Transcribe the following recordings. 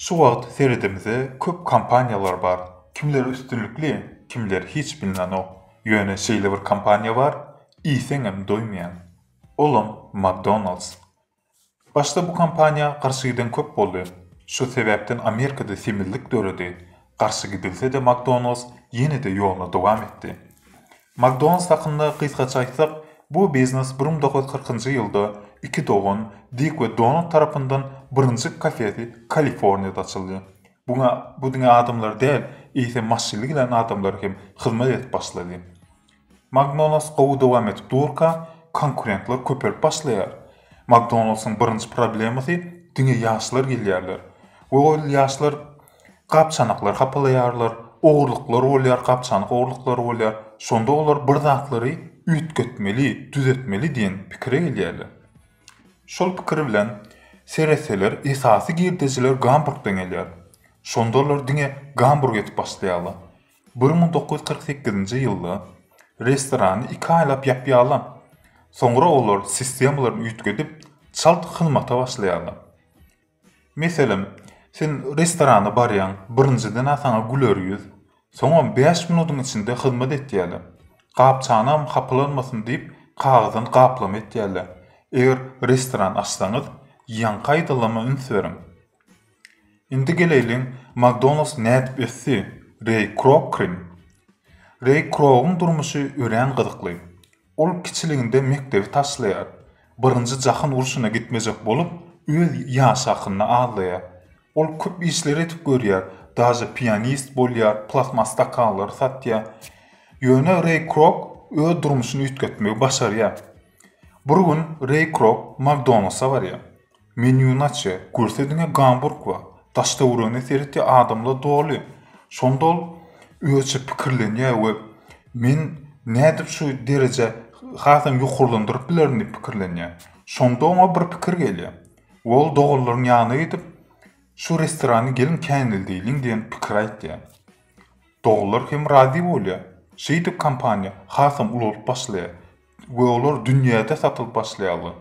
Şu wagt seredimizde köp kompaniýalar bar. Kimleri üstünlikli, kimleri hiç bilinenok. Ýöne şeýle bir kompaniýa bar, iýseňem doýmaýaň. Olam McDonald's. Başda bu kampaniýa garşy giden köp boldy. Şu sebäpden Amerikada semizlik döredi. Garşy gidilse-de McDonald's ýene-de ýoluny dowam etdi. McDonald's hakynda gysgaça aýtsak, bu biznes bir müň dokuz ýüz kyrkynjy ýylda iki dogan, Dik we Donald tarapyndan birinji kafesi Kaliforniýada açyldy. Buňa bu diňe adamlar däl, eýsem maşynly gelen adamlar hem hyzmat edip başlady. Magdonalds gowy dowam edip durka, konkurentler köpelip başlaýar. Magdonaldsyň birinji problemasy diňe ýaşlar gelýärler we ol ýaşlar gap-çanaklary hapalaýarlar, ogurlyklar bolýar, gap-çanak ogurlyklary bolýar. Şonda olar bir zatlary üýtgetmeli, düzetmeli diýen pikire gelýärler. Şol pikir bilen seretseler, esasy girdejiler Gamburgdan gelýär. Şonda olar diňe Gamburg edip başlaýarlar. Bir müň dokuz ýüz kyrk sekizinji ýylda restorany iki aýlap ýapýarlar. Soňra olar sistemalaryny üýtgedip, çalt hyzmata başlaýarlar. Meselem, sen restorana barýaň, birinjiden-ä saňa güler ýüz, soňam bäş minudyň içinde hyzmat etýärler. Gap-çanam hapylanmasyn diýip, kagyzdan gaplama etýärler. Eger restoran açsaňyz, ýaňky aýdylama üns beriň. Indi geleýliň, Makdonalds nädip ösdi? Reý Krok krim. Reý Krogyň durmuşy örän gyzykly. Ol kiçiliginde mekdebi taşlaýar. Birinji jahan urşuna gitmejek bolup, öz ýaşy hakynda aglaýar. Ol köp işler edip görýär, daže pianist bolýar, plastmas stakanlary satýar. Ýöne Reý Krok öz durmuşyny üýtgetmegi başarýar. Bir gün Reý Krok Makdonalsa barýar. Menýuny açýa. Görse diňe gamburg bar. Daştöweregine seretýä adamlar doly. Şonda ol özüçe pikirlenýä we men nädip şu dereje hasam ýokarlandyryp bilerin diýip pikirlenýä. Şonda oňa bir pikir gelýä. We ol doganlaryň ýanyna gidip şu restorany geliň käneldeýliň diýen pikir aýtýa. Doganlar hem razy bolýa. Şeýdip kompaniýa hasam ulalyp başlaýa. we olar dünýäde satylyp başlaýarlar.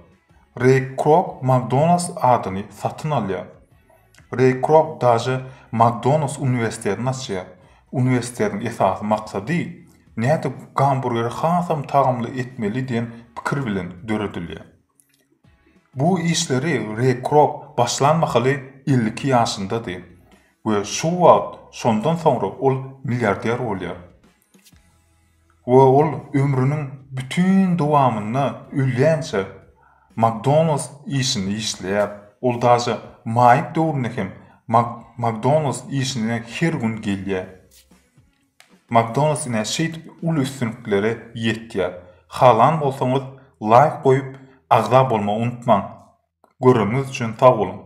Reý Krok McDonald's adyny satyn alýar. Reý Krok daže McDonald's uniwersitetini açýar. Uniwersitetiň esasy maksady nädip gamburgeri hasam tagamly etmeli diýen pikir bilen döredilýär. Bu işleri Re Krok başlan mahaly elli iki ýaşyndady we şu wagt şondan soňra ol milliarder bolýar we ol ömrüniň bütin dowamynda ölýänçä McDonald's işinde işleýär, ol daşa maýyp döwründe hem McDonald's işine her gün gelýär. Makdonalds ine şeýdip uly üstünliklere ýetýär. Halan bolsaňyz laýk goýup agza bolmagy unutmaň. Göreniňiz üçin sag boluň.